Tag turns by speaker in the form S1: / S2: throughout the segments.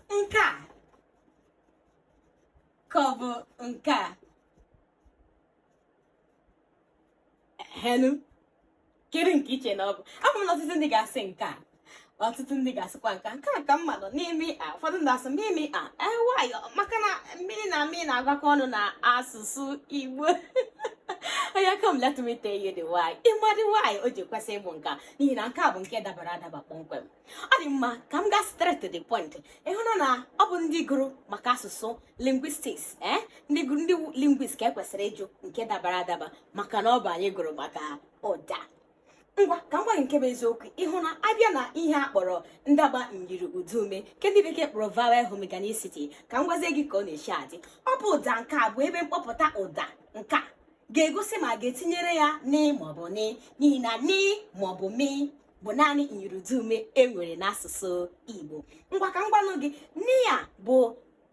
S1: nke a ka ọ bụ nke a henu kedu nke i che na ọ bụ ama m na ọtụtụ ndị ga-asị nke a ọtụtụ ndị ga-asịkwa nke nke a ka mma bụ nị mị a ụfọdụ ndị asị mị mị a why eh, maka na mị na mị na-agakọ ọnụ na asụsụ igbo oya come let me tell you the why ị ma the why o ji kwesị ịbụ nke a n'ihi na nke a bụ nke dabara adaba kpọmkwem ọ dị mma ka m gaa straight to the point ị hụna na ọ bụ ndị gụrụ maka asụsụ linguistics ee eh? ndị gụrụ ndị linguist ka e kwesịrị ịjụ nke dabara adaba maka na ọ bụ anyị gụrụ maka ụda ngwa ka m gwa gị nke bụ eziokwu ị hụ na a bịa na ihe a kpọrọ ndaba myiri ụdaume nke ndị bekee kpọrọ vowel homorganicity ka m gwazie gị ka ọ na-eshi adị ọ bụ ụda nke a bụ ebe mkpọpụta ụda nke a ga-egosi ma a ga-etinyere ya nị maọbụ mị n'ihi na nị maọbụ mị bụ naanị myiri ụdaume e nwere n'asụsụ Igbo ngwa ka m gwanụ gị nị ya bụ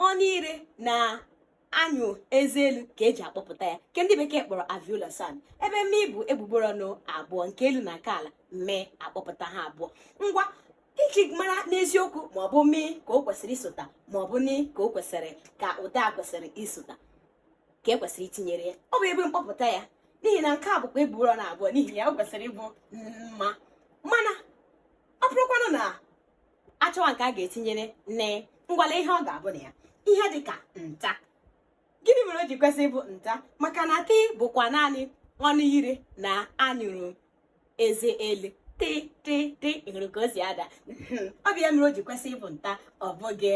S1: ọnụ ire na anyụ eze elu ka e ji akpọpụta ya nke ndị bekee kpọrọ alveolar sound ebe mị bụ egbugbere ọnụ abụọ nke elu na nke ala mị akpọpụta ha abụọ ngwa iji mara n'eziokwu ma ọ bụ mị ka o kwesịrị isota ma ọ bụ nị ka o kwesịrị ka ụda kwesịrị isota ka e kwesịrị itinyere ya ọ bụ ebe mkpọpụta ya n'ihi na nke a bụkwa egbugbere ọnụ abụọ n'ihi ya o kwesịrị ịbụ mma mana ọ bụrụkwanụ na a chọwa nke a ga-etinyere nị ngwa lee ihe ọ ga-abụ na ya ihe dị ka nta gịnị mere o ji kwesị ịbụ nta maka na tị bụkwa naanị ọnụ ire na anyụrụ eze elu tị tị tị ị hụrụ ka o si ada hmm, ọ bụ ya mere o ji kwesị ịbụ nta ọ bụghị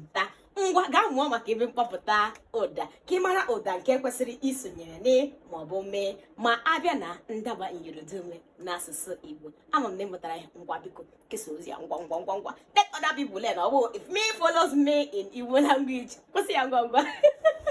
S1: mta ngwa gaa mụọ maka ebe mkpọpụta ụda ka ị mara ụda nke kwesịrị isonyere nị maọbụ mị ma a bịa na ndaba myiri ụdaume n'asụsụ igbo ama m na ị mụtara ya ngwa biko kesa ozi ya ngwa ngwa ngwa ngwa let other people learn ọ bụ if me follows me in igbo language kwụsị ya ngwa ngwa